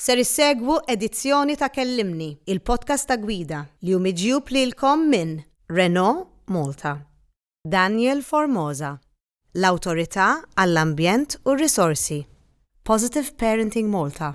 Ser issegwu edizzjoni ta' Kellimni, il-podcast ta' gwida li hu miġjub lilkom minn Renault Malta, Daniel Formosa, l-Awtorità għall-Ambjent u r-Risorsi, Positive Parenting Malta,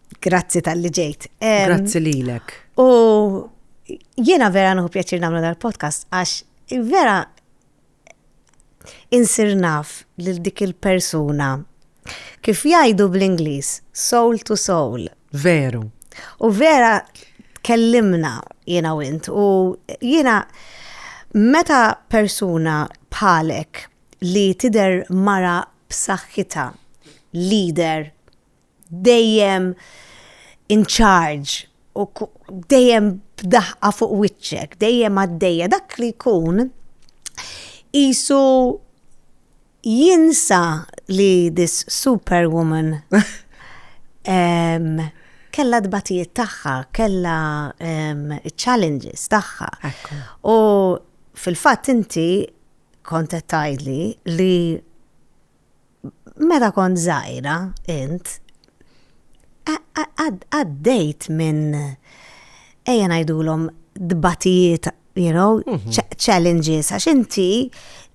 Grazzi tal-li ġejt. Grazzi lilek. U jiena vera nħu pjaċir namlu dal-podcast għax vera insir naf lil dik il-persuna kif jgħidu bl-Ingliż soul to soul. Veru. U vera kellimna jiena u int u jiena meta persuna bħalek li tider mara b'saħħitha leader dejjem in charge u dejjem b'daħqa fuq wiċċek, dejjem għaddejja, dak li jkun jisu jinsa li this superwoman kella dbatijiet tagħha, kella challenges tagħha. U fil-fatt inti kontet tajli li Meta kont żgħira int, għaddejt minn ejja ngħidulhom dbatijiet, you know, challenges, għax inti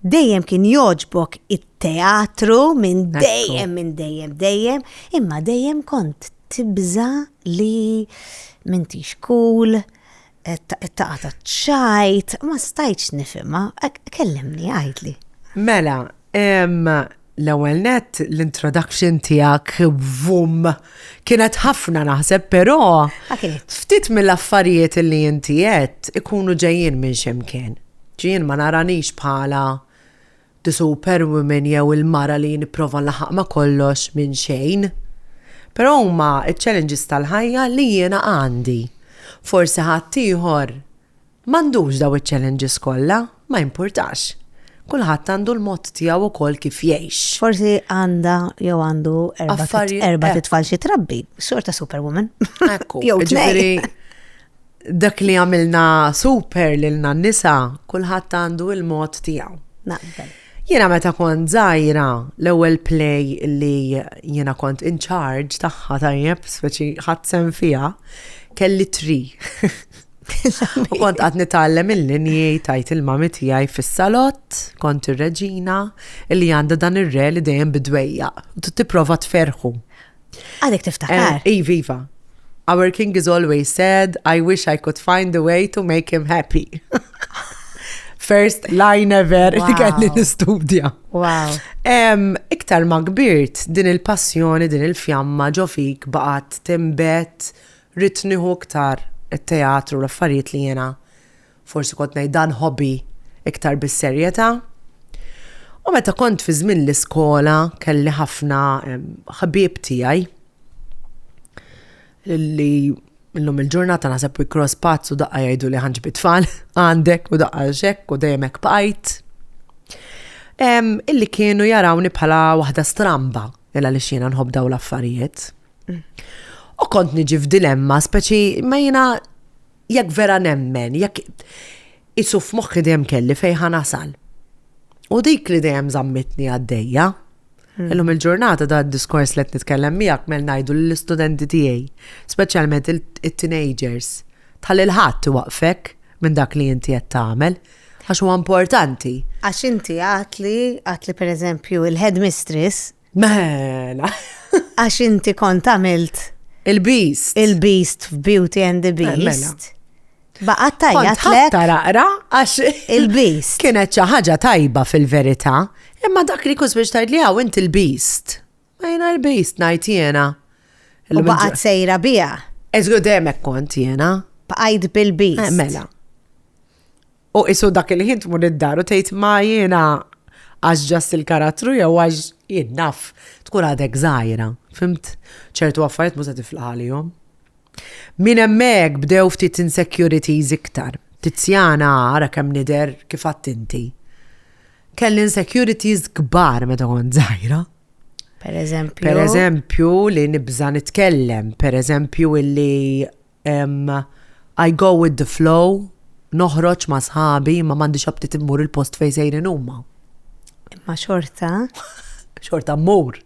dejjem kien jogħġbok it-teatru minn dejjem, minn dejjem, dejjem, imma dejjem kont tibża li m'intix cool, It-taqgħa taċ-ċajt ma stajtx nifhimha, kellimni għidli. Mela, l-ewwel net l-introduction tiegħek vum kienet ħafna naħseb però ftit mill-affarijiet li inti qed ikunu ġejjin minn x'imkien. Ġejjin ma naranix bħala The Superwoman jew il-mara li nipprova nlaħaq ma' kollox minn xejn. Però huma ċ-challenges tal-ħajja li jiena għandi. Forsi ħaddieħor m'għandux dawn iċ-challenges kollha, ma jimpurtax. Kulħadd għandu l-mod tiegħu wkoll kif jgħix. Forsi għandha jew għandu erbat erbat it-tfal xi trabbi, xorta superwoman. Ekku. Jew tnejn. Jiġifieri Dak li għamilna super lilna n-nisa, kulħadd għandu il-mod tiegħu. Naqbel. Jiena meta kont żgħira, l-ewwel play li jiena kont in charge tagħha tajjeb, speċi ħadd sem fiha, kelli tri. U kont għad nitgħallem il-linji tajt il-mami tiegħi fis-salott, kont ir-reġina li għandha dan ir-re li dejjem bidwejja, tipprova tferħu. Għadek tiftakar. Eh, iva, iva. Our king is always said, I wish I could find a way to make him happy. First line ever li kelli nistudja. Wow. Iktar ma kbirt din il-passjoni, din il-fjamma ġo fik baqat timbet ritniħu iktar it-teatru l-affarijiet li jena Forsi kont ngħid dan hobby iktar bis-serjetà. U meta kont fi żmien l-iskola kelli ħafna ħbieb tiegħi li illum il-ġurnata naħseb we cross paths u daqqa jgħiduli ħa nġibi tfal għandek u daqqa x'hekk u dejjem hekk bqajt. Illi kienu jarawni bħala waħda stramba illa li xina nħobb daw l-affarijiet. U kont niġi f'dilemma speċi ma jiena Jekk vera nemmen, jekk isu f'moħħi dejjem kelli fejn ħa nasal. U dik li dejjem żammitni għaddejja. Hmm. Illum il-ġurnata da diskors li qed nitkellem miegħek mel ngħidu lill-istudenti tiegħi, speċjalment it-teenagers, tal il-ħadd waqfek minn dak li inti qed tagħmel għax huwa importanti. Għax inti għatli, għatli per eżempju, il-headmistress Mela. Għax inti kont għamilt. Il-Beast. Il-Beast f'Beauty and the Beast. Mela. Baqat tajja tlek. Taraqra għax. Il-Beast. Kienet xi ħaġa tajba fil-verità, imma dak li kus biex tgħid li hawn inti l-Beast. Ma jiena l-Beast ngħid jiena. U baqat sejra biha. Eżgu demek kont jiena. Baqajt bil-Beast. Eh, mela. U qisu dak il-ħin tmur id-dar u tgħid ma jiena għax ġast il-karattru jew għax jien naf tkun għadek żgħira, fimt? ċertu affarijiet mhux se tiflaħ għalihom. Minn hemmhekk bdew ftit insecurities iktar. Tiziana ara kemm nidher kif għadt inti. Kelli insecurities kbar meta kont żgħira. Per eżempju. Per eżempju li nibża nitkellem, per eżempju illi I go with the flow, noħroġ ma' sħabi imma m'għandix aptit immur il-post fejn sejrin huma. Imma xorta? Xorta mmur.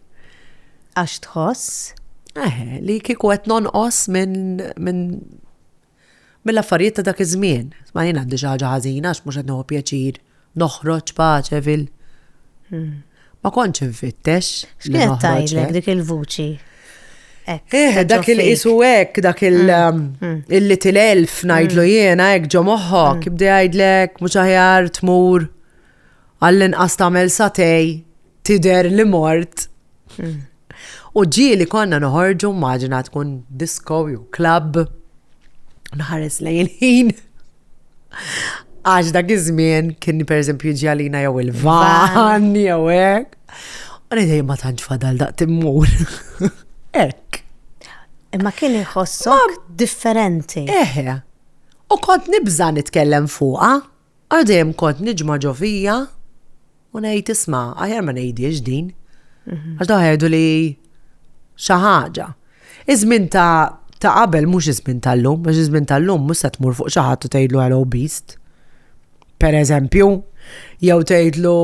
Għax tħoss? Eħe, li kieku qed nonqos minn min, mill-affarijiet ta' dak iż-żmien. Ma jien għandi xi ħaġa ħażina għax mhux qed nieħu pjaċir noħroġ pace fil. Ma kontx infittex. X'kienet tajlek dik il-vuċi? Eh, dak il-isu hekk, dak il-little mm, mm. elf ngħidlu mm. jiena hekk ġo moħħok, ibda jgħidlek mhux aħjar tmur għall-inqas tagħmel satej tider li mort. U ġieli konna noħorġu maġina tkun disco jew club. Nħares lejn ħin. Għax dak iż-żmien kien pereżempju jiġi għalina jew il-van jew hekk. U ngħidej ma tantx fadal daq timmur. Hekk. Imma kien iħossok differenti. Eħe. U kont nibża' nitkellem fuqha, għal dejjem kont niġma' ġo fija. U ngħid isma' aħjar ma ngħidiex din. Mhm. Għax daħħa jgħidu li xi ħaġa. Iż-żmien ta' ta' qabel mhux iż-żmien tal-lum, għax iż-żmien tal-lum mhux se tmur fuq xi ħadd u tgħidlu hello beast. Per eżempju, jew tgħidlu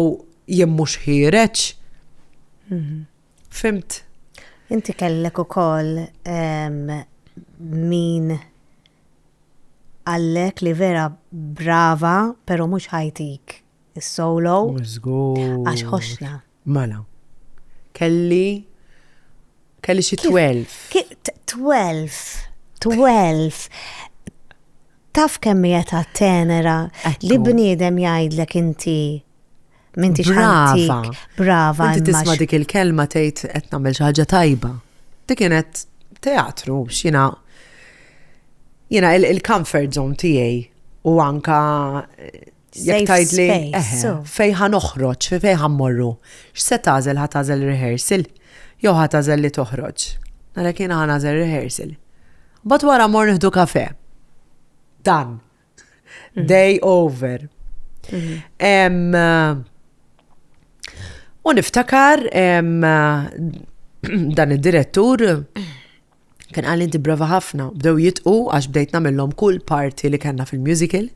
jien mhux ħiereġ. Mhm. Fimt? Inti kellek ukoll min għallek li vera brava, pero mux ħajtik is-solo. Mhux żgur. Għax ħoxna. Mela. Kelli kelli xi 12. 12. 12. Taf kemm hija ta' tenera li bniedem jgħidlek inti minti xantik. Brava. Inti tisma' dik il-kelma tgħid qed nagħmel xi ħaġa tajba. Dik kienet teatru x'jiena jiena il-comfort zone tiegħi u anka Jekk tgħidli fejn ħa noħroġ, fejn ħa mmorru, x'se tagħżel ħa tagħżel rehearsal jew ħa tagħżel li toħroġ. Għalhekk jiena ħa nagħżel rehearsal. Mbagħad wara mor nieħdu kafe. Dan. Mhm. Day over. Mhm. Eh, u niftakar eh, dan id-direttur Kien qalli inti brava ħafna, bdew jitqu għax bdejt nagħmilhom kull parti li kellna fil-musical.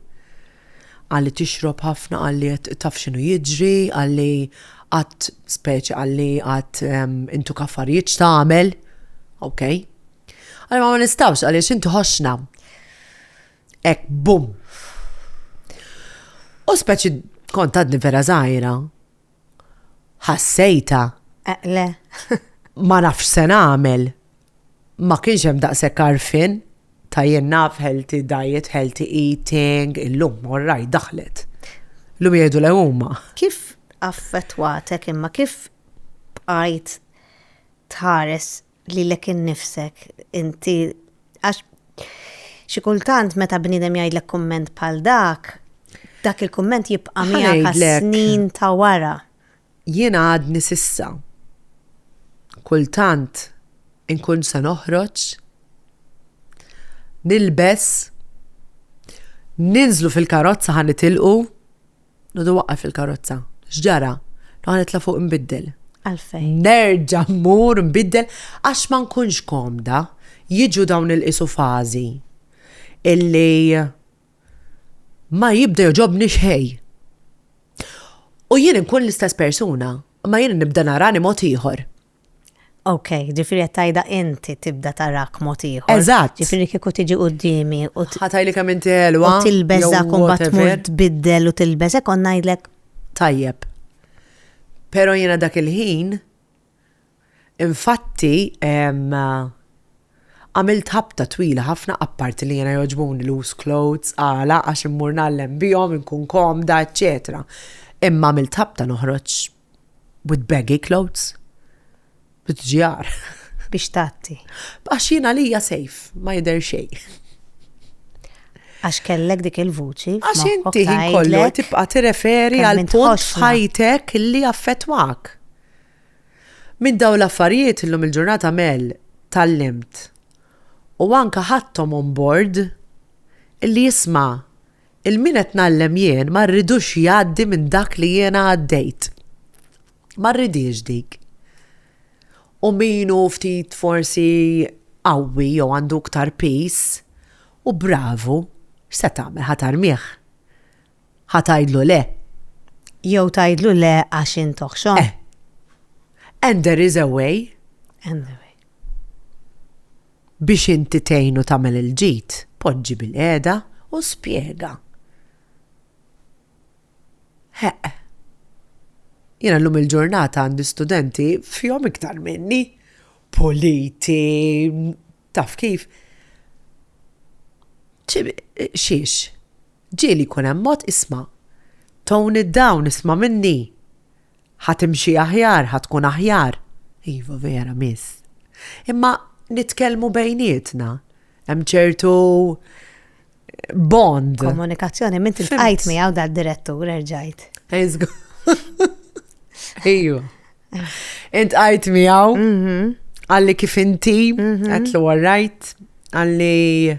Qalli tixrob ħafna, qalli taf x'inhu jiġri, qalli qatt speċi qalli qatt ehm, intu kaffarijiet x'tagħmel. Ok. Għalli ma nistawx għaliex inti ħoxna. Ek, bum. U speċi kont għadni vera zaħira, Ħassejtha. Eqle. Ma nafx se nagħmel. Ma kienx hemm daqshekk għarfien ta' jien naf healthy diet, healthy eating, illum morrajt daħlet. Illum jgħidu le huma. Kif affettwatek imma kif bqajt tħares lilek innifsek inti għax xi kultant meta bniedem jgħidlek kumment bħal dak, dak il-kumment jibqa' miegħek snin ta' wara. Jien għadni sissa. Kultant inkun se noħroġ, nilbes, ninżlu fil-karozza ħa nitilqu, Nodu waqqaf il-karozza. X'ġara? Noqgħod nitla' fuq nbiddel. Għalfejn? Nerġa' mmur nbiddel għax ma nkunx komda. Jiġu dawn il-qisu fażi illi ma jibda jogħġobni xejn. U jien inkun l-istess persuna, imma jien nibda narani mod ieħor. Ok, ġifieri qed tgħidha inti tibda tarak mod ieħor. Eżatt. Ġifieri kieku tiġi quddiemi u Ħatajli kemm inti ħelwa. U tilbeż dak u mbagħad tmur tbiddel u tilbeż hekk kont ngħidlek. Tajjeb. Però jiena dak il-ħin infatti għamilt ħabta twila ħafna apparti li jiena jogħġbuni loose clothes, għala għax immur ngħallem bihom, inkun komda, eċċetera. Imma għamilt ħabta noħroġ with baggy clothes. Bitġjar. Biex tatti. Għax jien għalija safe, ma jidher xejn. Għax kellek dik il-vuċi. Għax inti ħin kollu tibqa' tirreferi għal punt ħajtek li affettwak. Minn daw l-affarijiet illum il-ġurnata mel tal-limt u anka ħattom on board illi jisma' Il-min qed ngħallem jien ma rridux jgħaddi minn dak li jiena għaddejt. Ma rridhiex dik. U min hu ftit forsi qawwi jew għandu iktar piż, u bravu, x'se tagħmel ħa tarmih? Ħa tgħidlu le? Jew tgħidlu le għax int oħxon? Eh. And there is a way. And there is a way. Biex inti tgħinu tagħmel il-ġid, poġġi bilqiegħda u spjega. Heq. Jiena llum il-ġurnata għandi studenti fihom iktar minni, puliti, taf kif. Xiex, ġieli jkun hemm mod isma', tone it down, isma' minni. Ħa timxi aħjar, ħa tkun aħjar. Iva, vera, miss. Imma nitkellmu bejnietna. Hemm ċertu bond. Komunikazzjoni, minn tilqajt miegħu dal direttur erġajt. Eżgu. Iju. Int għajt miegħu, mhm. għalli kif inti, mhm. għatlu għarrajt, għalli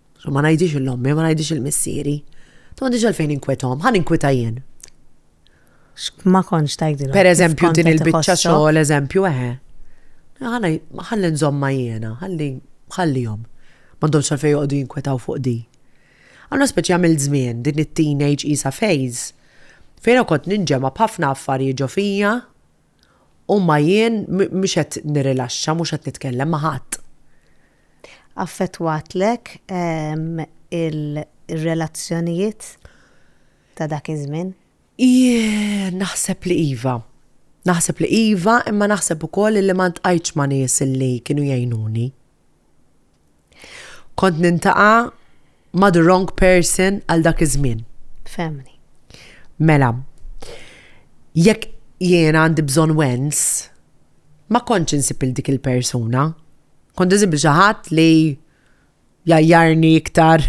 Ma ngħidix il-ommi, ma ngħidix il-missieri. Ma għandix għalfejn inkwethom, ħan inkwita jien. Ma konx tajdilhom. Per eżempju, din il-biċċa xogħol, eżempju, eħe. Ħalli nżomma jiena, ħalli ħallihom. Ma għandhomx għalfejn joqogħdu jinkwetaw fuq di. Għanna speċi għamil żmien din it-teenage isa phase fejn kont ninġema b'ħafna affarijiet ġo fija U ma jien mhux qed nirrilaxxa, mhux qed nitkellem ma' ħadd. Affettwatlek ir-relazzjonijiet ta' dak iż-żmien? Jien naħseb li iva. Naħseb li iva imma naħseb ukoll li ma ltqajtx ma' nies li kienu jgħinuni. Kont nintaqa' ma' the wrong person għal dak iż-żmien. Femni. Mela, jekk jiena għandi bżonn wens, ma kontx insib il dik il-persuna. Kont insib il xi ħadd li jgħajjarni iktar,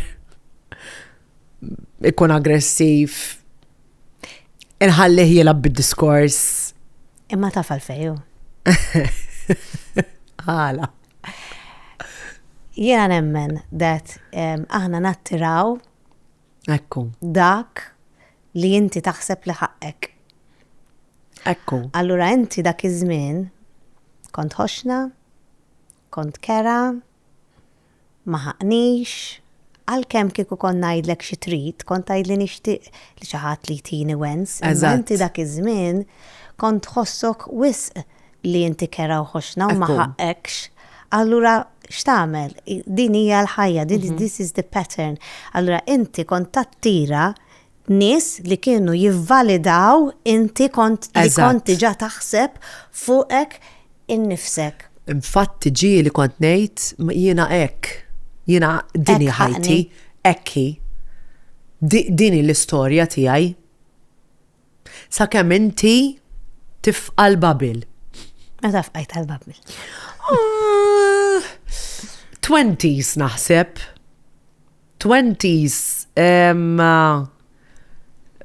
ikun aggressiv, inħallih jilgħab bid-diskors. Imma taf għalfej hu. Għala. Jiena nemmen dat um, aħna nattiraw Ekku. dak li inti taħseb li ħaqqek. Ekku. Allura inti dak iż-żmien kont ħoxna, Kont kerha, ma ħaqnix, għalkemm kieku kont ngħidlek xi trid, kont tgħidli nixtieq li xi ħadd li jtini wens, imma inti dak iż-żmien kont tħossok wisq li inti kerha u ħoxna u ma ħaqqekx. Allura x'tagħmel? Din hija l-ħajja, this is the pattern. Allura inti kont tattira nies li kienu jivvalidaw inti kont li kont diġà taħseb fuqek innifsek. Infatti ġie li kont ngħid jiena hekk, jiena dini ħajti, hekk hi. Dini l-istorja tiegħi. Sakemm inti tifqa l-babil. Meta fqajt għal-babil. Ah, twenties naħseb. Twenties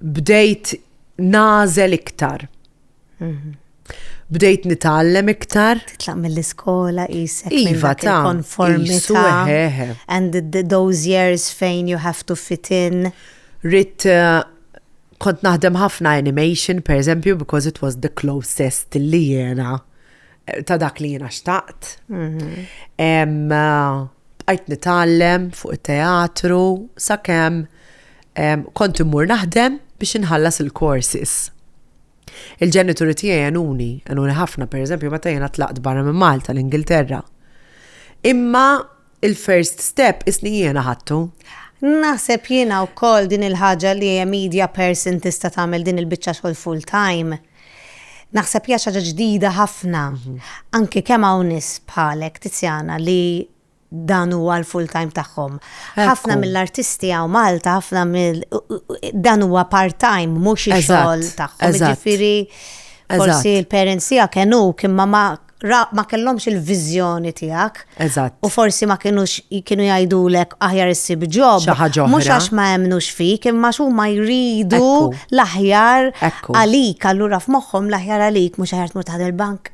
bdejt nagħżel iktar. Mhm. Bdejt nitgħallem iktar. Titlaq mill-iskola qisek iva ta' konformità. And those years fejn you have to fit in. Rit eh, kont naħdem ħafna animation, per eżempju, because it was the closest li jena ta' dak li jiena xtaqt. Mhm. Bqajt nitgħallem fuq it-teatru sakemm kont immur naħdem biex inħallas il-courses. Il-ġenituri tiegħi għenuni, għenuni ħafna, per eżempju, meta jiena tlaqt barra minn Malta l-Ingilterra. Imma il-first step isni jiena ħattu. Naħseb jiena wkoll din il-ħaġa li media person tista' tagħmel din il-biċċa xogħol full time. Naħseb li hija xi ħaġa ġdida ħafna, anki kemm hawn nies bħalek Tiziana li dan huwa l-full time tagħhom. Ħafna mill-artisti hawn Malta, ħafna mill dan huwa part time mhux ix-xogħol tagħhom. Ġifieri forsi l-parents tiegħek kenuk imma ma ra ma kellhomx il-viżjoni tiegħek. Eżatt. U forsi ma kienux kienu jgħidulek aħjar issib ġob. Xi ħaġa oħra. Mhux għax ma hemmnux fik, imma xu ma jridu Ekku. l-aħjar Ekku. għalik, allura f'moħħhom l-aħjar għalik mhux aħjar tmur taħdem il-bank.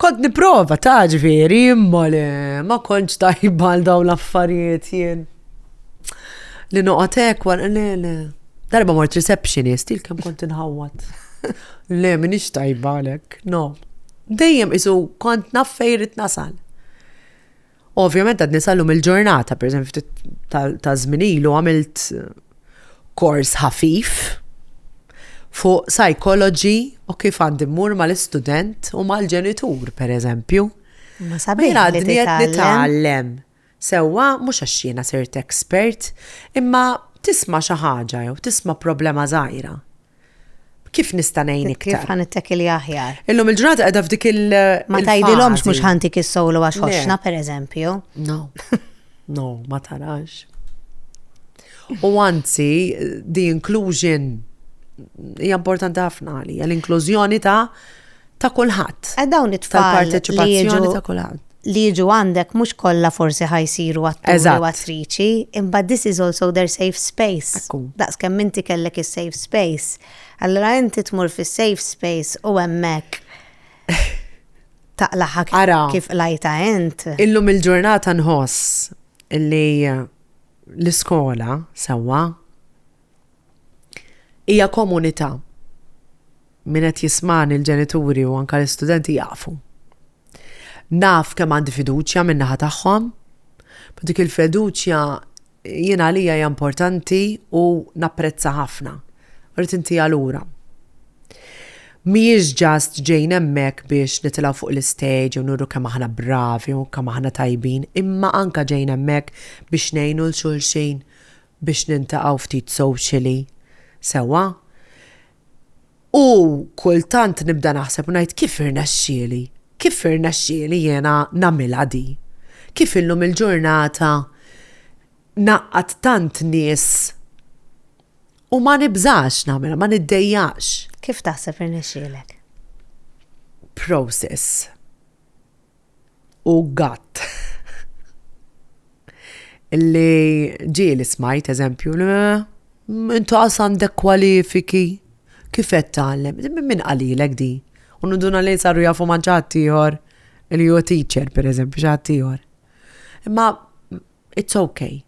Kont niprova ta' ġveri, imma le, ma kontx tajba għal dawn l-affarijiet jien. Li noqgħod hekk wara le le. Darba mort receptionist, il kem kont inħawat. Le, minix tajba għalek, no. Dejjem isu kont naffejrit nasal. Ovvjament għad nisallu mill-ġurnata, per eżempju, ta' zminilu għamilt kors ħafif fuq psychology u kif għandi mmur mal-istudent u mal-ġenitur, per eżempju. Ma sabina għadni għed nitallem. Sewwa, mhux għax jiena sirt expert, imma tisma' xi ħaġa jew tisma' problema żgħira. Kif nista' ngħin iktar? Kif ħa nittakilja aħjar? Illum il-ġurnata qiegħda f'dik il. Ma tgħidilhomx mhux ħantik is-solo għax ħoxna pereżempju. No. No, ma tarax. U anzi, the inclusion hija importanti ħafna għalija, l-inklużjoni ta' ta' kulħadd. E dawn it-tfal tal-parteċipazzjoni ta' kulħadd li jiġu għandek mhux kollha forsi ħajsiru atturi u attriċi, imma this is also their safe space. Daqs kemm inti kellek is-safe space. Allora inti tmur fis-safe space u hemmhekk taqlaħak kif lajta int. Illum il-ġurnata nħoss li l-iskola sewwa Hija komunità. Min qed jismani l-ġenituri u anke l-istudenti jafu. Naf kemm għandi fiduċja min-naħa tagħhom, ma dik il-fiduċja jien għalija hija importanti u napprezza ħafna. Rrid intiha lura. Mhijiex ġast ġejn hemmhekk biex nitilgħu fuq l-istage u nuru kemm aħna bravi u kemm aħna tajbin, imma anke ġejn hemmhekk biex ngħinu 'l xulxin biex nintaqgħu ftit socially sewwa u kultant nibda naħseb u ngħid kif irnexxieli? Kif irnexxieli jiena nagħmilha di? Kif illum il-ġurnata ngħaqqad tant nies u ma nibżax nagħmilha, ma niddejjaqx? Kif taħseb irnexxielek? Process. u gatt. Illi ġie li smajt eżempju, intu għas għandek kwalifiki, kif qed tgħallem? Min qalilek di? U nuduna li saru jafu ma' ġatt ieħor li hu teacher, pereżempju, ġatt ieħor. Imma It's ok.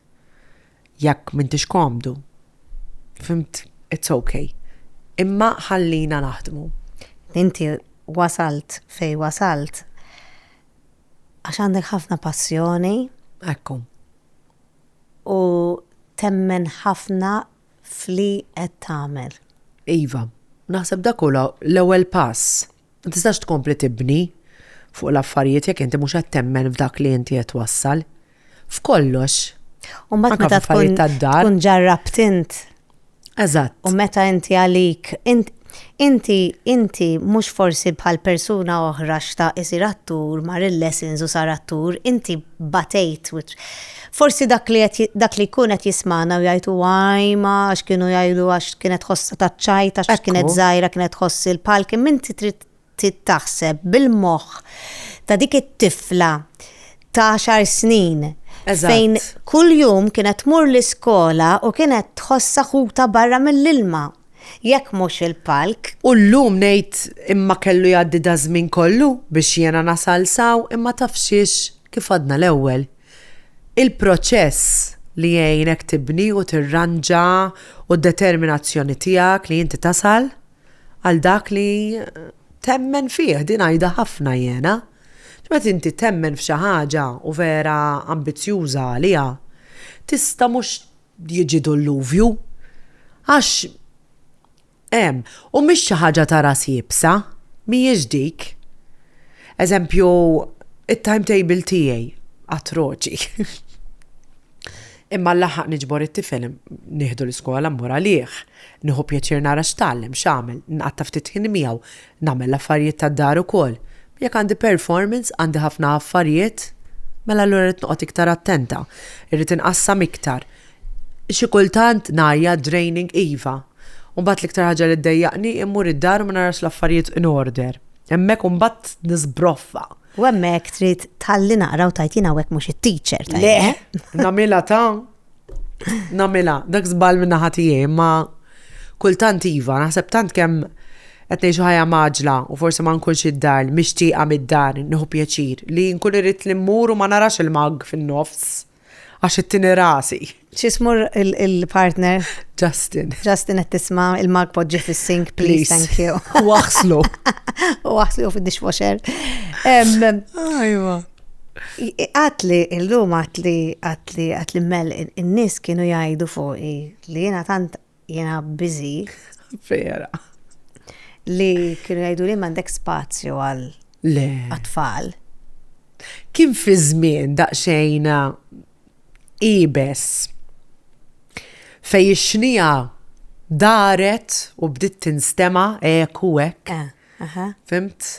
Jekk m'intix komdu. Fhimt? It's ok. Imma ħallina naħdmu. Inti wasalt fejn wasalt għax għandek ħafna passjoni. Ekku. U temmen ħafna f'li qed tagħmel. Iva, naħseb dak hu l-ewwel pass. Ma tistax tkompli tibni fuq l-affarijiet jekk inti mhux qed temmen f'dak li inti qed twassal. F'kollox. U mbagħad meta tkun tkun ġarrabt int. Eżatt. U meta inti għalik inti inti mhux forsi bħal persuna oħra xtaq isir attur mar il-lessons u sar attur, inti batejt Forsi dak li qed dak li jkun qed jismagħna u jgħid huwa għajma għax kienu jgħidu għax kienet ħossha taċ-ċajt għax kienet żgħira kienet tħoss il-palk imma inti trid taħseb bil-moħħ ta' dik it-tifla ta' għaxar snin fejn kuljum kienet tmur l-iskola u kienet tħossha ħuta barra mill-ilma jekk mhux il-palk. U llum ngħid imma kellu jgħaddi da żmien kollu biex jiena nasal saw imma tafxiex kif għadna l-ewwel Il-proċess li jgħinek tibni u tirranġa u d-determinazzjoni tiegħek li inti tasal għal dak li temmen fih, din għidha ħafna jiena. Meta inti temmen f'xi ħaġa u vera ambizzjuża għaliha, tista' mhux jiġi dulluvju għax Hemm, u mhix xi ħaġa ta' ras iebsa, mhijiex dik. Eżempju, it-timetable tiegħi atroċi. Imma nlaħħaq niġbor it-tifel, nieħdu l-iskola, mmur għalih, nieħu pjaċir nara x'tgħallem, x'għamel, nqatta' ftit ħin miegħu, Nagħmel l-affarijiet tad-dar ukoll. Jekk għandi performance, għandi ħafna affarijiet, mela allura rrid noqgħod iktar attenta. Irrid inqassam iktar. Xi kultant ngħajjat, draining, iva. U mbagħad l-iktar ħaġa li ddejjaqni hi mmur id-dar u ma narax l-affarijiet in order. Hemmhekk imbagħad nisbroffa. U hemmhekk trid tħalli naqra u tgħid jien hawnhekk mhux it-teacher. Le! Nagħmilha ta'. Namila, dak zbal minna ħatijie, ma kultant iva, naħseb tant kem għetnej ħajja maġla u forse ma nkunx id-dar, mixtieqa mid-dar, nħu pjaċir, li nkun irrit li mmur u ma narax il-mag fin-nofs, għax it-tini rasi. Xismur il-partner? Justin. Justin għet tisma il-mag podġi fil-sink, please, thank you. Waxlu. Waxlu fil-dishwasher. Ajwa. Għatli, illum għatli, għatli, għatli mel, in-nies kienu jgħidu fuqi li jiena tant jiena biżi. Vera. Li kienu jgħidu li m'għandek spazju għal Le. tfal Kien fi żmien daqsxejn ibes fej ix-xnija daret u bdiet tinstema eku hekk. Eh. Aha. Fimt?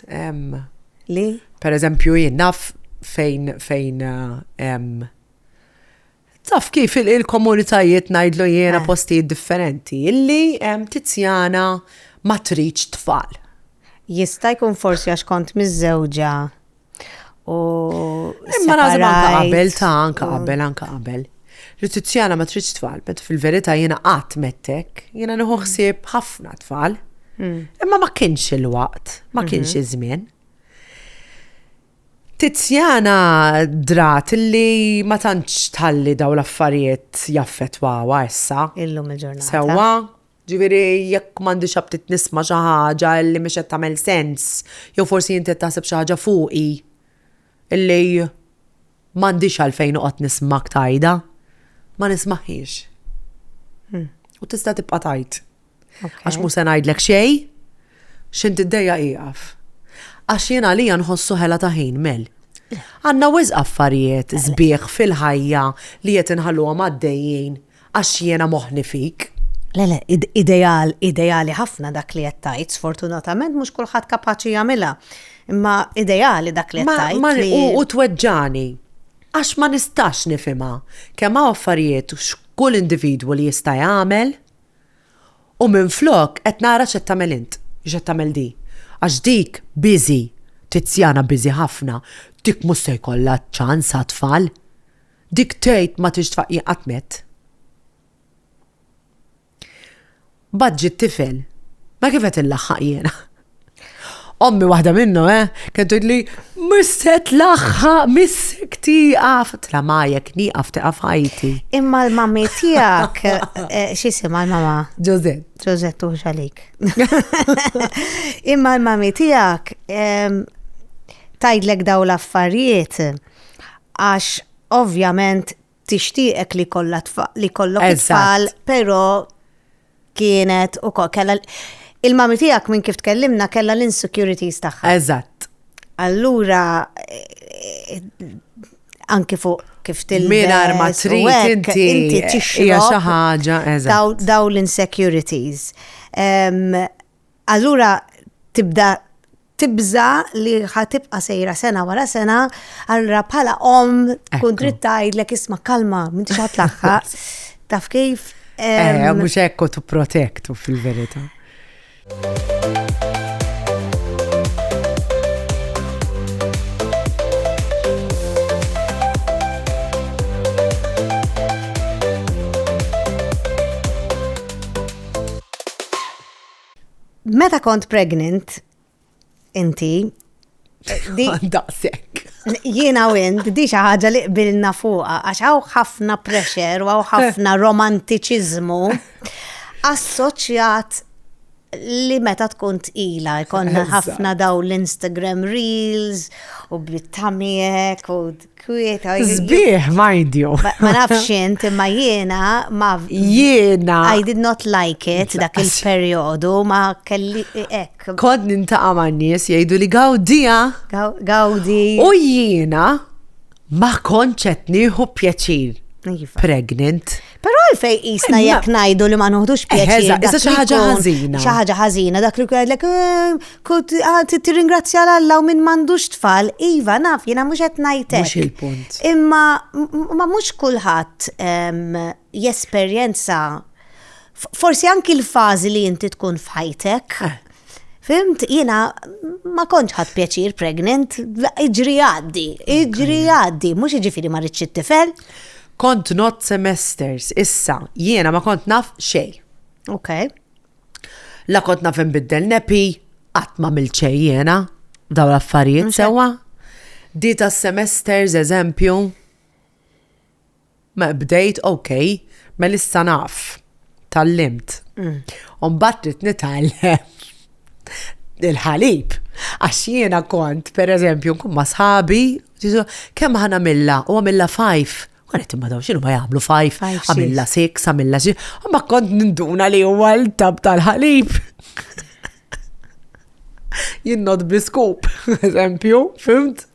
Li? Per eżempju, jien naf fejn fejn taf kif il-komunitajiet najdlu jiena eh. postijiet differenti illi tizjana ma tridx tfal. Jista' jkun forsi għax kont miżżewġa U. Imma nażem anka qabel, ta' anka qabel, anka qabel. Li Tiziana ma tridx tfal, bet fil-verità jiena qatt mettek, jiena nieħu ħsieb ħafna tfal. Mm. Imma ma kienx il-waqt, ma mhm. kienx iż-żmien. Tiziana drat li ma tantx tħalli daw l-affarijiet jaffetwawa issa. Illum il-ġurnata. Sewa, Ġifieri jekk m'għandix aptit nisma' xi ħaġa li mhix qed tagħmel sens, jew forsi inti qed taħseb xi ħaġa fuqi li m'għandix għalfejn noqgħod nismak tgħidha, ma nismagħhiex. U tista' tibqa' tgħid. Għax mhux se ngħidlek xejn, x'int iddejjaq ieqaf. Għax jien għalija nħossu ħela ta' ħin, Mel. Għandna wisq affarijiet sbieħ fil-ħajja li qed inħalluhom għaddejjin Għax jiena moħħni fik. Le le, ideal, ideali ħafna dak li qed tgħid, sfortunatament mhux kulħadd kapaċi jagħmilha. Imma ideali dak li qed tgħid. U tweġġani. Għax ma nistax nifhimha kemm hawn affarijiet x'kull individwu li jista' jagħmel u minflok qed nara x'qed tagħmel int, x'qed tagħmel di. Għax dik busy, Tiziana busy ħafna, dik mhux se jkollha ċans għat-tfal. Dik tgħid ma tridx tfaqqi qatt mett. Mbagħad ġie t-tifel. Ma kif qed inlaħħaq jiena? Ommi waħda minnhom, eh, kien tgħidli, mhux se tlaħħaq, missek tieqaf. Tla ma jekk nieqaf tieqaf ħajti. Imma l-mammi tiegħek eh, x'isima l-mama? Ġożett. Ġożett u xalik. Imma l-mammi tiegħek ehm, tgħidlek daw l-affarijiet. għax ovvjament tixtieqek li kollha li jkollok it-tfal, però kienet u kella il-mami tiegħek minn kif tkellimna kella l-insecurities tagħha. Eżatt. Allura eh, anki fuq kif til. Mira ma trid inti inti tixxi xi ħaġa eżatt. Daw l-insecurities. Allura tibda tibża li ħa tibqa' sejra sena wara sena, allura bħala omm tkun trid tgħidlek isma' kalma, m'intix ħadd laħħaq. Taf kif? Eh, mhux hekk tu protektu fil-verità. Meta kont pregnant, inti. Daqsek. Jiena u int, di xi ħaġa li qbilna fuqha, għax hawn ħafna pressure u hawn ħafna romantiċiżmu assoċjat li meta tkun tqila, jkollna ħafna daw l-Instagram reels u bit-tamijek u Kwieta. Zbieħ ma jidju. Ma nafx int imma jiena ma jiena. I did not like it dak il-perjodu ma kelli ek. Kod nintaqa' ma' nies jgħidu li gawdija. Gawdi. U jiena ma konċet nieħu pjaċir. Iva. Pregnant. Però għalfej jisna eh, jekk ngħidu li ma noħdux pjaċir. Eh, issa xi ħaġa ħażina. Xi ħaġa ħażina dak li jgħidlek eh, kont ah, tirringrazzja l-Alla u minn m'għandux tfal, iva naf jiena mhux qed ngħidlek. Mhux il-punt. Imma ma mhux kulħadd ehm, jesperjenza forsi anki l-fażi li inti tkun f'ħajtek. Fimt, jina ma konċ ħat pjaċir pregnant, iġri għaddi, iġri għaddi, mux iġifiri ma rridx it-tifel. Kont not semesters, issa, jiena ma kont naf xej. Ok. La kont naf nbiddel nepi, qatt ma mil xej jiena, daw l-affarijiet sewa. Dita semesters, eżempju, Mela bdejt ok, mela issa naf, tgħallimt. U mbagħad trid nitgħallem il-ħalib. Għax jiena kont, pereżempju, nkun ma' sħabi, kemm ħa nagħmilha u għamilha fajf. Kont qed imma dawn x'inhu ma jagħmlu fajf, għamilha six, għamilha xi. Imma kont ninduna li huwa l-tab tal-ħalib. Jien not bi skup, eżempju, fimt?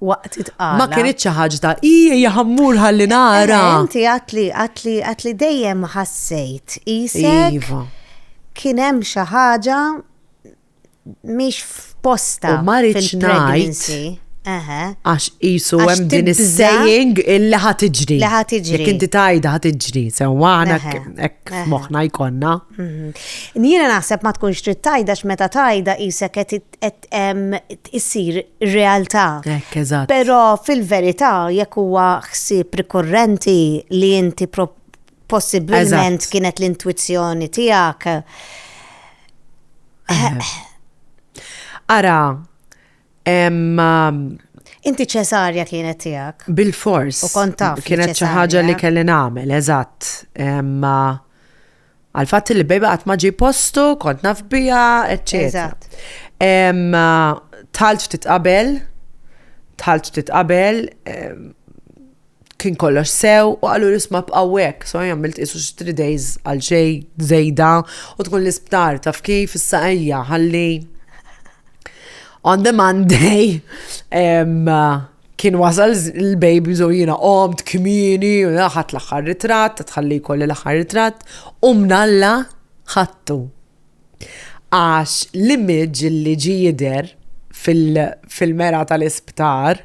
waqt it-tqala. Ma kienet xi ħaġa ta' ija jaħammur ħalli nara. Inti għatli għatli għatli dejjem ħassejt isek. Iva. Kien hemm xi ħaġa mhix f'posta. U ma rridx ngħid. Għax jisu hemm din is-saying illi ħad iġri. Li ħad iġri. Jekk inti tajda ħad iġri, sewwa hekk moħħna jkollna. Mhm. Jiena naħseb ma tkunx trid tajda x'meta tajda qisek qed issir realtà. Hekk, eżatt. Però fil-verità jekk huwa ħsieb rikorrenti li inti possibilment kienet l-intwizzjoni tiegħek. Ara, Inti ċesarja kienet tiegħek. Bil-fors. U kont taf. Kienet xi ħaġa li kelli nagħmel, eżatt. Għal fatt li baby qatt ma ġie postu, kont naf biha, eċċetera. Tħalt titqabel, tħalt titqabel, kien kollox sew u għallu l-isma b'għawek, so għamilt isu 3 days għal xej zejda u tkun l-isptar taf kif issa ejja ħalli on the Monday Kien wasal l-baby zo jina qomt kmini, ħadd l-aħħar ritratt, tħalli jkolli l-aħħar ritratt, u mnalla ħattu. Għax l-image li ġi jider fil-mera tal-isptar,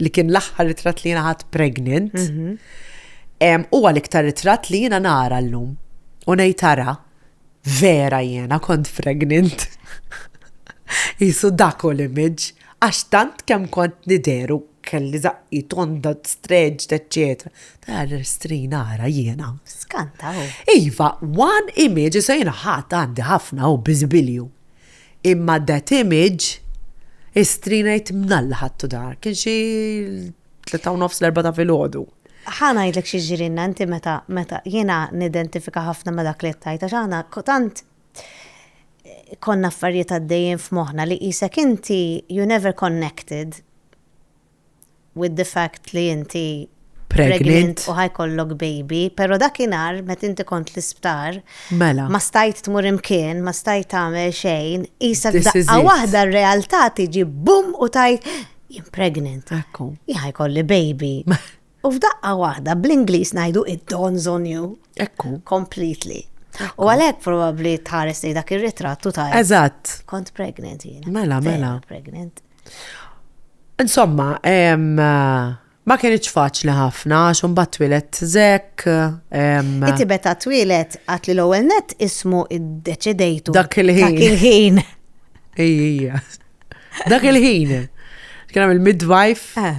li kien l-aħħar ritratt li jina ħadd pregnant, mhm. huwa l-iktar ritratt li jina nara l-lum. U nejtara, vera jena kont pregnant. Jisu dak u l-image. Għax tant kemm kont nidher u kelli zaqqi tonda stretched, etc. Ta' l-istrin ara jiena. Skanta u. Iva, one image, issa jiena ħadd għandi ħafna u biżibilju. Imma that image, istrin ngħid mnalla ħadtu dar. Kien xi tleta u nofs l-erba ta' filgħodu. Ħa ngħidlek xi ġirinna inti meta meta jiena nidentifika ħafna ma' dak li qed tgħid għax aħna tant konna affarijiet għaddejjin f'moħħna li qisek inti you never connected with the fact li inti pregnant u ħajkollok baby, pero dakinhar met inti kont l-isptar, mela. ma stajt tmur imkien, ma stajt tagħmel xejn, isa daqqa waħda r-realtà tiġi bum u tajt jien pregnant. Ekku. Jħajkolli baby. U f'daqqa waħda bl-Ingliż ngħidu it dawns on you. Ekku. Completely. U għalhekk probabbli tħares li dak ir-ritrattu ta' Eżatt. Kont pregnant jiena. Mela, mela. Pregnant. Insomma, ma kienx faċli ħafna, xum bat twilet zek. Inti beta twilet għat li l-ewel net ismu id-deċidejtu. Dak il-ħin. Dak il-ħin. Ija. Dak il-ħin. Kena il midwife eh.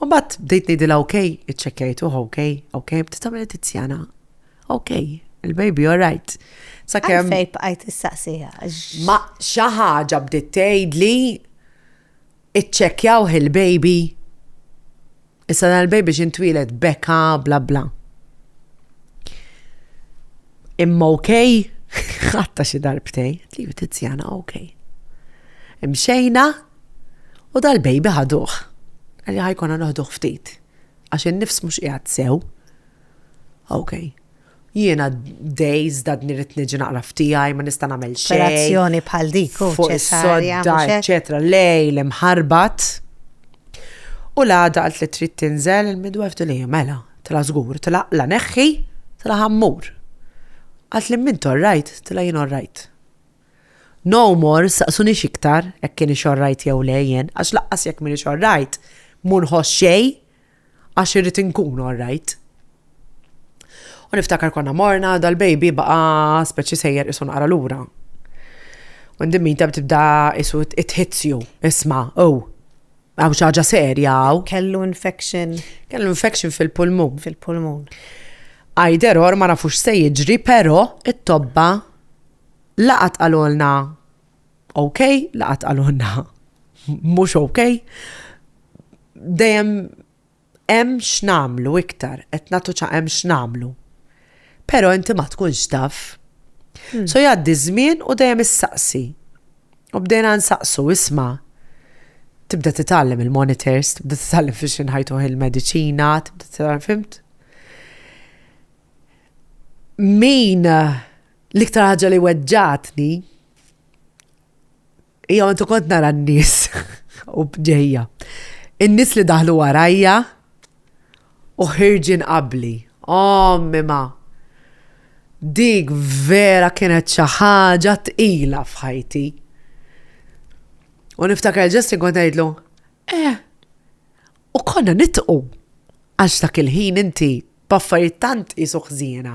U mbagħad bdejt ngħidilha ok, iċċekkjajtuh ok, ok, bdiet tagħmel Tiziana. Ok, il-baby all right. Sakemm. Fejn bqajt issaqsija. Ma xi ħaġa bdiet tgħidli iċċekkjaw il-baby. Issa dan il-baby x'intwieled beka bla bla. Imma ok, ħatta xi darbtej, li Tiziana ok. Imxejna, U dal-baby ħaduh. Qal li ħa jkollna noħduh ftit. Għax in-nifs mhux qiegħed sew. Ok. Jiena days dadni rrid niġi naqra f'tiegħi, ma nista' nagħmel xejn. Operazzjoni bħal dik u ċesarja. Eċetera, lejl imħarbat. U l-għada għalt li trid tinżel il-midwef li mela, tla żgur, tla la neħħi, tla ħammur. Għalt li minn torrajt, tla jien orrajt. No more, staqsunix iktar jekk kienx alright jew le jien, għax laqqas jekk m'iniex alright, mhu nħoss xejn għax irrid inkun alright. U niftakar konna morna, dal-baby baqa' speċi sejjer qisu naqra lura. U in the meantime tibda qisu it hits you, isma', oh, hawn xi ħaġa serja hawn. Kellu infection. Kellu infection fil-pulmun. Fil-pulmun. Either or ma nafux se jiġri, però it-tobba Laqgħat qalulna ok, laqgħat qalulna mhux ok. Dejjem hemm x'namlu iktar, qed nagħtu ċa hemm x'namlu. Però inti ma tkunx taf. Hmm. So jgħaddi żmien u dejjem issaqsi. U bdejna nsaqsu isma' tibda titgħallem il-monitors, tibda titgħallem fiex inħajtuħ il-mediċina, tibda titgħallem fimt. Min L-iktar ħaġa li weġġatni hija meta kont nara n-nies u bġejja. In-nies li daħlu warajja u ħirġin qabli. Oh, mima. Dik vera kienet xi ħaġa tqila f'ħajti. U niftakar ġessi kont ngħidlu, eh, u konna nitqu għax dak il-ħin inti b'affarijiet tant isu ħżiena.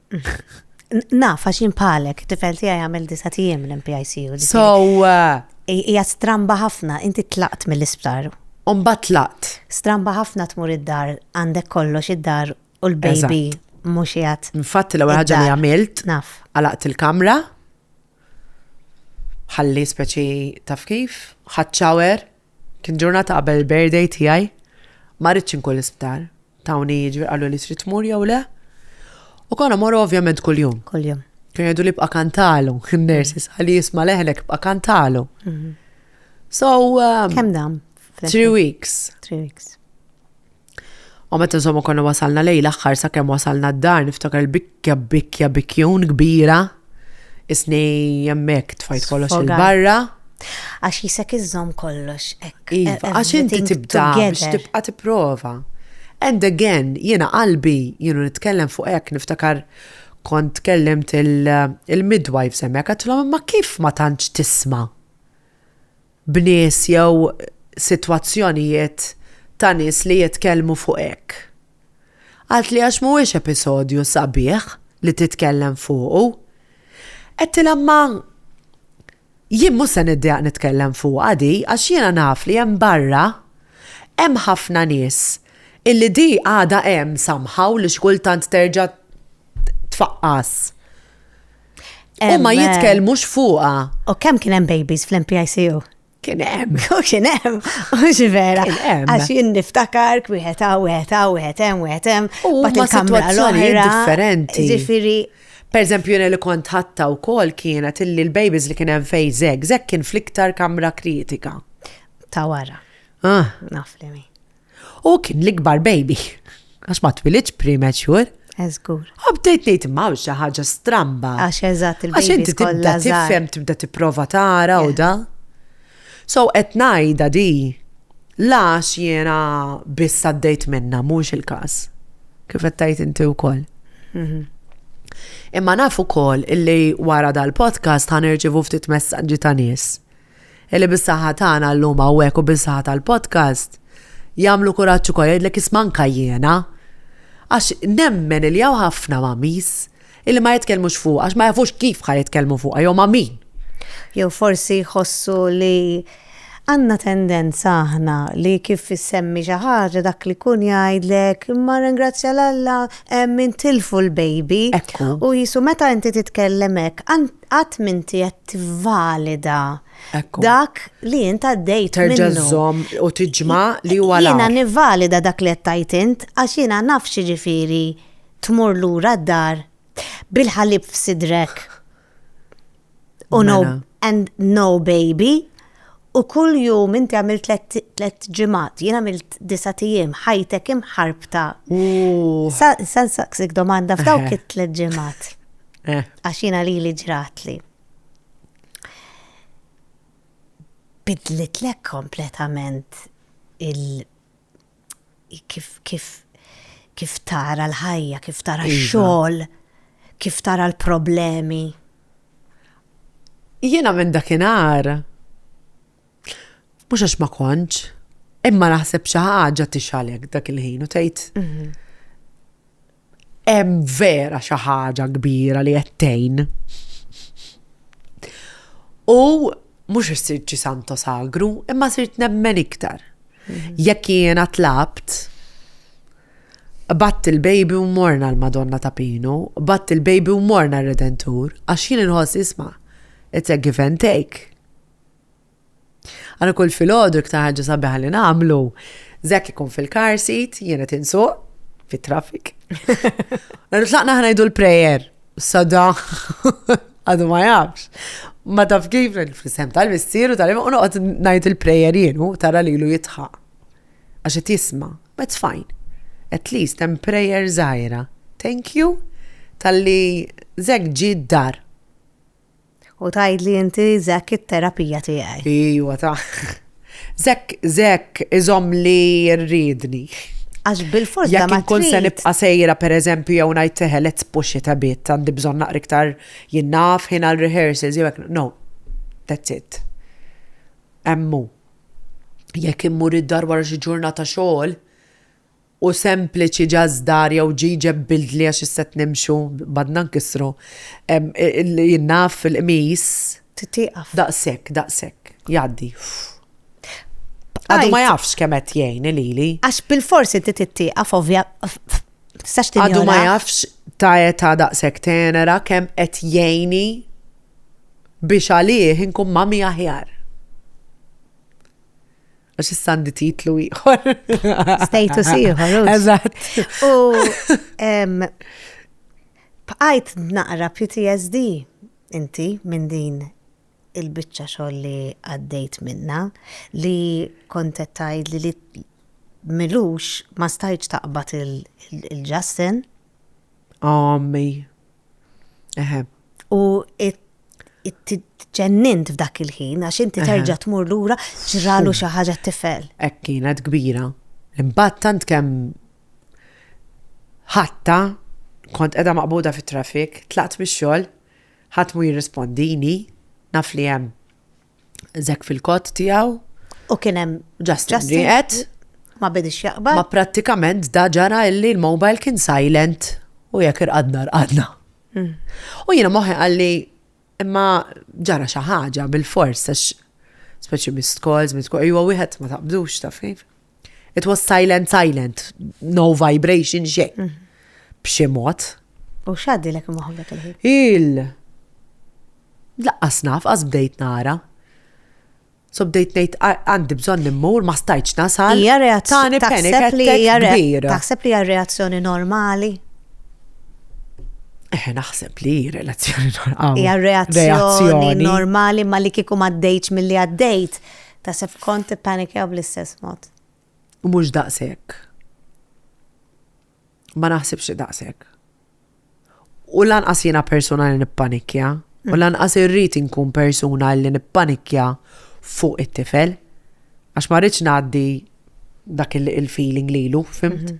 Naf, għax jien bħalek, tifel tiegħi jagħmel disa' tiem l-MPICU. So. Uh, hija stramba ħafna, inti tlaqt mill-isptar. Umba tlaqt. Stramba ħafna tmur id-dar, għandek kollox id-dar u l-baby mhux jgħat. Infatti l-ewwel ħaġa li għamilt. Naf. Għalaqt il-kamra. Ħalli speċi taf kif, ħadd Kien ġurnata qabel il-birthday tiegħi, ma rridtx inkun l-isptar. Tawni jiġri qaluli trid tmur jew le. U konna morru ovvjament kuljum. Kuljum. Kien jgħidu li bqa' kantalu, in-nurses, għalli jisma' leħnek bqa' kantalu. Mhm. So. Um, Kemm dam? Three weeks. Three weeks. U meta insomma konna wasalna lejn l-aħħar sakemm wasalna d-dar niftakar il-bikkja bikkja bikkjun kbira isni hemmhekk tfajt kollox il-barra. Għax jisek iżżomm kollox hekk. Iva, e- għax inti tibda biex tibqa' tipprova. And again, jiena qalbi, jienu nitkellem fuq hekk niftakar kont tkellimt il-midwife semmek, għatlom ma kif ma tantx tisma. b'nies jew sitwazzjonijiet ta' nies li jitkellmu fuq hekk. Għalt li għax mhuwiex episodju sabiħ li titkellem fuqu. Għedtilha imma jien mhux se niddejjaq nitkellem fuqha di għax jiena naf li hemm barra hemm ħafna nies illi di għadha hemm somehow li xi kultant terġa' tfaqqas. U ma jitkellmux fuqa. U kemm kien hemm babies fl-MPICU? Kien hemm, u kien hemm, u xi vera. Għax jien niftakar wieħed hawn, wieħed hawn, wieħed hemm, wieħed hemm. U ma situazzjonijiet differenti. Ġifieri. Per eżempju, jena li kont ħatta u kol kienet illi l-babies li kien hemm fej zeg, zeg kien fl-iktar kamra kritika. Ta' wara. Ah. Naf li mi. U kien l-ikbar baby. Għax ma twilidx premature. Eżgur. Eh, Għabdejt nejt ma xi ħaġa stramba. Għax eżatt il-baby. Għax inti tibda tifhem, tibda tipprova tara u da. So qed ngħidha di. Lax jiena biss għaddejt minna mhux il-każ. Kif qed tgħid inti wkoll. Mhm. Imma naf ukoll illi wara dal-podcast ħanerġivu ftit messaġġi ta' nies Illi bis-saħħa tagħna llum hawnhekk u bis-saħħa tal-podcast, jagħmlu kuraġġ ukoll jgħidlek isma' anka jiena. Għax nemmen illi hawn ħafna mamis illi ma jitkellmux fuqha għax ma jafux kif ħa jitkellmu fuqha jew ma' min. Jew forsi jħossu li għandna tendenza aħna li kif issemmi xi ħaġa dak li jkun jgħidlek imma ringrazzja l Alla hemm intilfu l-baby. Ekku. U jisu meta inti titkellem hekk, qatt minti qed tivvalida dak li int għaddejt. Terġa' żomm u tiġma li huwa l Jiena nivvalida dak li qed tajt int għax jiena naf x'jiġifieri tmur lura d-dar bil-ħalib f'sidrek. U no mela. and no baby. U kull jum inti għamilt tlet ġimgħat, jien għamilt disa' tijiem, ħajtek imħarbta. Sa nsaqsik domanda f'dawk eh. it-tlet ġimgħat. Eh. Għax jiena lili ġratli. Bidlitlek kompletament il- kif kif kif tara l-ħajja, kif tara iva. x-xogħol, kif tara l-problemi. Jiena minn dakinhar mhux għax ma kontx, imma naħseb xi ħaġa tixalek dak il-ħin u tgħid mhm. Hemm vera xi ħaġa kbira li qed tgħin. U mhux issir ċi santo sagru, imma sirt nemmen iktar. Mhm. Jekk jiena tlabt, batt il-baby u morna l-Madonna ta' Pinu, batt il-baby u morna r-Redentur, għax jien inħoss isma' it's a give and take. Għana kull filgħodu iktar ħaġa sabiħa li nagħmlu. Zek ikun fil-car seat, jiena tinsuq, fit-traffic. Għana tlaqna ħnajdu l-prayer, sada għadu ma jafx. Ma taf kif fl-isem tal-missiru tal-im u noqgħod ngħid il-prayer jienu tara lilu jitħaq. Għax qed jisma', but fine. At least hemm prayer żgħira. Thank you tal-li zek ġi dar U tgħidli inti Zek it-terapija tiegħi. Ijwa ta. Zek, Zek, iżomm li rridni. Għax bil-fors da ma tkun se nibqa' sejra pereżempju jew ngħid teħe let's push it a bit għandi bżonn naqra iktar jinnaf ħin għal rehearsals jew hekk. No. That's it. Emmu. Jekk immur id-dar wara xi ġurnata xogħol, u sempliċi ġażdar jew ġiġeb bildli għax is-sett nimxu badna nkissru jien naf il-qmis tieqaf daqshekk daqshekk jgħaddi għadu ma jafx kemm qed jgħin lili għax bilfors inti tittieqaf ovvja għadu ma jafx ta' età daqshekk tenera kemm qed jgħini biex għalih inkun mami aħjar. Għax issa għandi titlu ieħor. Status ieħor. Eżatt. U bqajt naqra PTSD inti minn din il-bicċa xogħol li għaddejt minna li kontet tajd li li milux ma stajċ taqbat il-Justin. Ommi. Eħe. U ġennint f'dak il-ħin, għax inti terġa tmur lura ġralu xi ħaġa tifel. Hekk kienet kbira. Imbagħad tant kemm ħatta kont qiegħda maqbuda fit-traffic, tlaqt mix-xogħol, ħadd mu jirrispondini, naf li hemm Zek fil-kot tiegħu. U kien hemm Justin Grieqed. Ma bidix jaqbad. Ma prattikament da ġara illi l-mobile kien silent u jekk irqadna rqadna. Hmm. U jiena moħħi għalli imma ġara xi ħaġa bil-fors għax speċi mist calls, mist calls, wieħed ma taqbdux ta' fejn. It was silent, silent, no vibration, xejn. Mm. B'xi mod. U xaddi l-ek moħbek il-ħin? Il. Laqqas naf, għaz bdejt nara. So bdejt nejt għandi bżon nimmur, ma stajċ nasal. Ija reazzjoni. Taħseb li hija Taħseb li hija reazzjoni normali? Eh, naħseb li relazzjoni normali. Hija reazzjoni normali ma li kieku ma dejċ mill-li għaddejt Taħseb kont tippanikjaw bl-istess mod? Mhux daqshekk. Ma naħsibx li daqshekk. U lanqas jiena persuna li nippanikja, u mm. lanqas irrid inkun persuna li nippanikja fuq it-tifel, għax ma rridx ngħaddi dak il-feeling lilu, fimt? Mhm.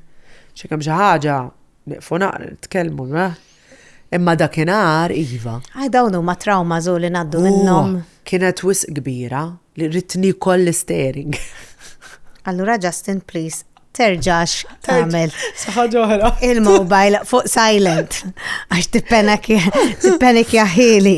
Xi kemm xi ħaġa niqfu naqra nitkellmu, Imma dakinhar iva. Għaj dawn huma traumas u li ngħaddu minnhom. Kienet wisq kbira li rrid nikol l-istering. Allura Justin please terġax tagħmel. Saħħa Il-mobile fuq silent għax tippenek jaħili.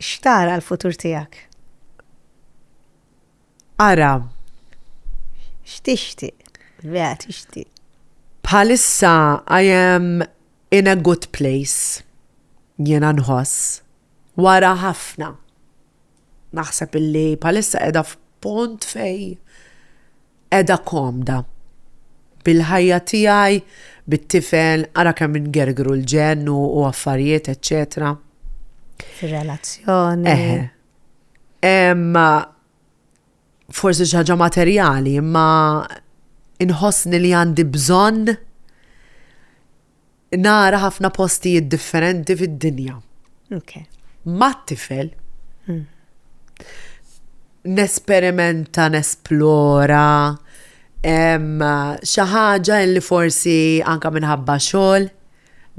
X'tara l-futur tiegħek? Ara. X'tixtieq? Vera tixtieq. Bħalissa I am in a good place. Jiena nħoss. Wara ħafna. Naħseb illi bħalissa qiegħda f'punt fej qiegħda komda bil-ħajja tiegħi, bit-tifel, ara kemm ingergru l-ġenn u affarijiet, eċċetera. Fir-relazzjoni. Imma forsi xi ħaġa materjali, imma inħossni li għandi bżonn Nara ħafna postijiet differenti fid-dinja. Okay. Mat-tifel. Mm. Nesperimenta, nesplora, xi ħaġa li forsi anka minħabba xogħol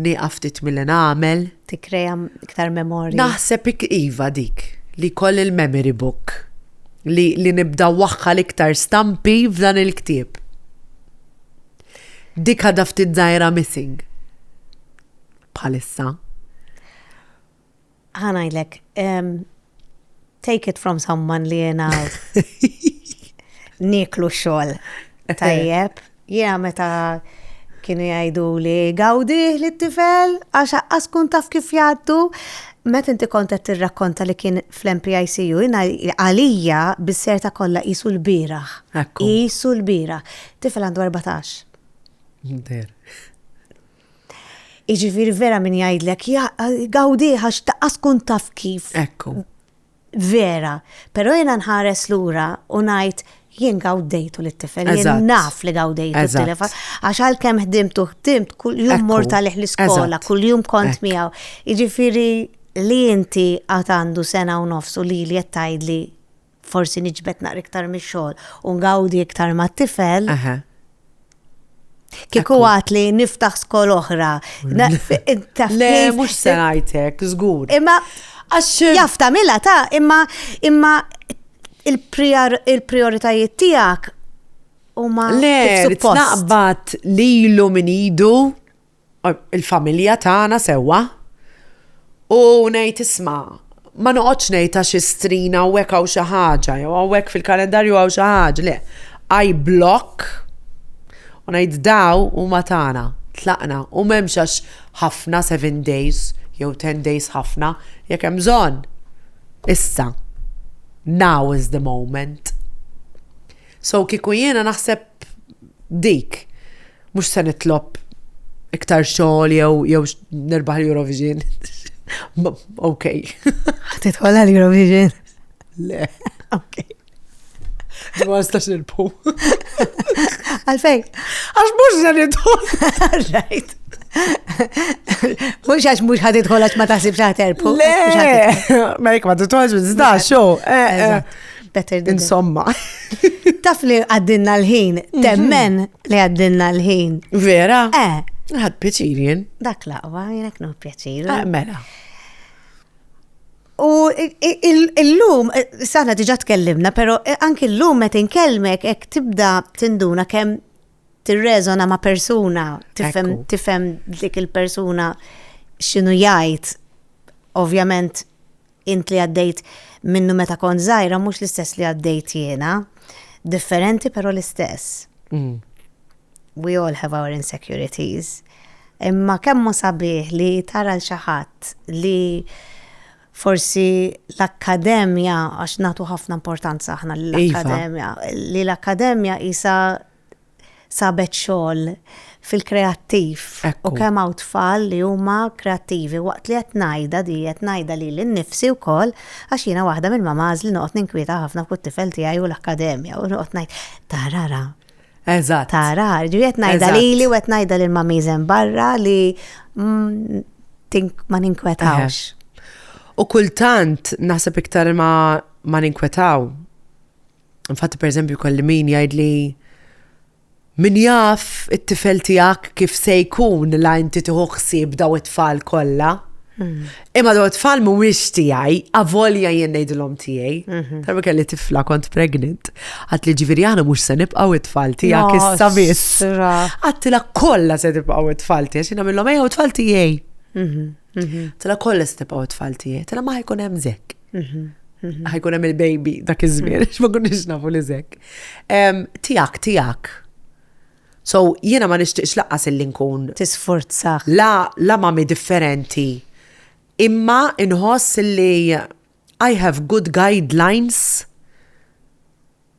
nieqaf ftit milli nagħmel. Tikkreja iktar memorji. Naħseb iva dik li koll il-memory book li, li nibda waħħa l-iktar stampi f'dan il-ktieb. Dik għadha ftit żgħira missing bħalissa. Ħa ngħidlek, take it from someone li jiena niklu xogħol tajjeb. Jiena meta kienu jgħidu li gawdi li t-tifel għax aqqas kun taf kif jgħaddu Met inti kontet tirrakkonta li kien fl-MPICU, jina għalija bis-serta kollha isu l-biraħ. Isu l-biraħ. Tifel għandu 14. Inter. Iġifir vera min jgħidlek, għawdi għax taqqas kun taf kif. Ekku. Vera, pero jena nħares lura u najt jien għawdejtu li t-tifel, jien naf li għawdejtu t-tifel, għax għal kem ħdimtu ħdimt kull jum mort għalih l-iskola, kull jum kont miegħu. Iġifiri li inti għatandu sena u nofsu li li jettajd li forsi niġbed naqra iktar mix-xogħol u ngawdi iktar mat-tifel. Kieku għat li niftaħ skol oħra. Le, mux senajtek, zgur. Imma, jaf tamila ta' imma, imma il-prioritajiet tijak u ma. Le, naqbat li l-lum idu il-familja tagħna sewwa u ngħid isma' ma noqgħodx ngħid għax istrin hawnhekk hawn xi ħaġa jew hawnhekk fil-kalendarju hawn xi ħaġa le. I block u ngħid daw huma tagħna, tlaqna u m'hemmx għax ħafna seven days jew ten days ħafna jekk hemm bżonn. Issa. Now is the moment. So kieku jiena naħseb dik Mhux se nitlob iktar xogħol jew jew nirbaħ l-Eurovision. Ok. Titħol għal-Eurovision? Le. Ok. Ma nistax nilpu. Għalfej. Għax mux se nidħol. Rajt. Mux għax mux ħad idħol għax ma taħsib xaħterpu. Le. Ma jek ma titħolx bizda, xo. Eh, eh. Better than Insomma. Taf li għaddinna l-ħin, mhm. temmen li għaddinna l-ħin. Vera? Eh. Għad pjaċir jien. Dak laqwa, jenek no pjaċir. Eh, mela. U il-lum, eh, sana diġa tkellimna, pero eh, anki l-lum met inkelmek ek tibda tinduna kem tirrezona ma' persuna, tifem dik il-persuna xinu jajt, ovvjament Int li għaddejt minnu meta kont żgħira mhux l-istess li għaddejt jiena. Differenti però l-istess. We all have our insecurities. Imma kemm hu sabiħ li tara l xi ħadd li forsi l-akkademja għax nagħtu ħafna importanza aħna lill-akkademja, li l-akkademja qisha sabet xogħol fil-kreattiv u kemm hawn tfal li huma kreattivi waqt li qed ngħidha di qed ngħidha lili nnifsi wkoll għax jiena waħda mill-mamans li noqgħod ninkwieta ħafna fuq it-tifel tiegħi u l-akkademja u noqgħod ngħid tara ra. Eżatt. Tara, ġifieri qed ngħidha lili u qed ngħidha lil mamiż hemm barra li mm, ma ninkwetawx. U kultant naħseb iktar ma ma ninkwetaw Infatti, per eżempju, kolli min jgħidli min jaf it-tifel tijak kif se jkun la inti tiħu ħsieb daw it-tfal kollha. Hmm. Imma daw it-tfal mhuwiex tiegħi, avolja jien ngħidilhom tiegħi. Mhm. Tarba kelli tifla kont pregnant. Għat li ġifieri aħna mhux se nibqgħu it-tfal tiegħek issa biss. Għattila kollha se tibqgħu it-tfal tiegħek, xi nagħmilhom ejja it-tfal tiegħi. Mhm, mhm. Tila kollha se tibqgħu it-tfal tiegħi, tila ma jkun hemm zekk. ħajkun hemm il-baby dak iż-żmien, x'ma kunniex nafu li żek. Tiegħek, tiegħek. So jiena ma nixtieqx laqas illi nkun. Tisforza. La, la mami differenti. Imma inħoss li I have good guidelines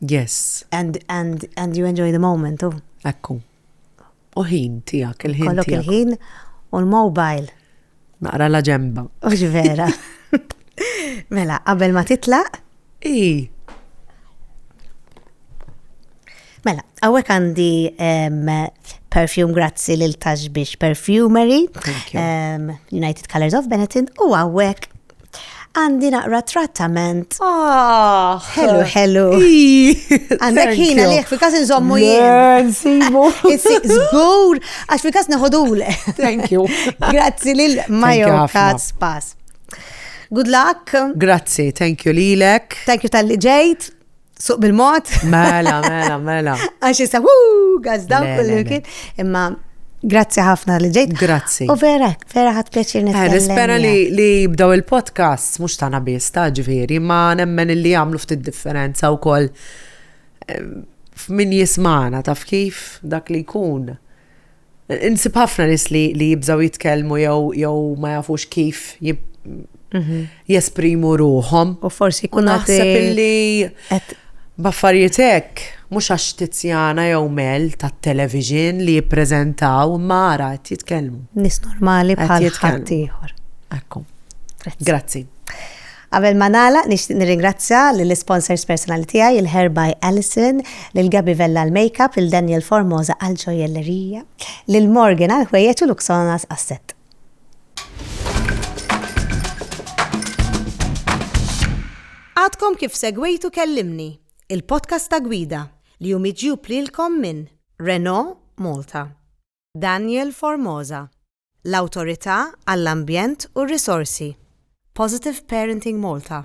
Yes. And and and you enjoy the moment u. Ekku. U ħin tiegħek, il-ħin. Kollok il-ħin u l-mobile. Naqra la ġemba. Ux vera. mela, qabel ma titlaq? I. Mela, għawek għandi perfume grazzi lil Tashbish Perfumery, um, United Colors of Benetton, u għawek Għandi naqra trattament. Ah! Hello, hello. Għandek ħina liħ, fi kas nżommu jien. Nsibu. Zgur, għax fi kas neħodule. Thank you. Grazzi lil Majo Kaz Pass. Good luck. Grazzi, thank you lilek. Thank you tal-li ġejt. Suq bil-mod. Mela, mela, mela. Għax jisa, wuu, gazdaw kullu kien. Imma Grazzi ħafna li ġejt. Grazzi. U vera, vera ħat pjaċir eh, nitkellem. Nispera li li jibdaw il-podcast, mux tana biss ta' ġviri, ma nemmen li għamlu ftit differenza u koll eh, min jismana taf kif dak li jkun. Insib ħafna nis li, li jibżaw jitkellmu jew jew ma jafux kif jib, mhm. jesprimu ruħom. U forsi kun naħseb illi baffarijiet hekk mhux għax Tizjana jew Mel tat-television li jippreżentaw mara qed jitkellmu. Nis normali bħal ħadd ieħor. Ekku. Grazzi. Qabel ma nagħlaq nixtieq nirringrazzja lill-isponsors personali tiegħi, il-Hair by Alison, lil Gabby Vella għall-makeup, lil Daniel Formosa għall-ġojjellerija, lil Morgan għall-ħwejjeġ u Luxonas għas-sett. Għadkom kif segwejtu Kellimni, il-podcast ta' gwida li hu miġjub lilkom minn Renault Malta, Daniel Formosa, l-Awtorità għall-Ambjent u r-Risorsi, Positive Parenting Malta.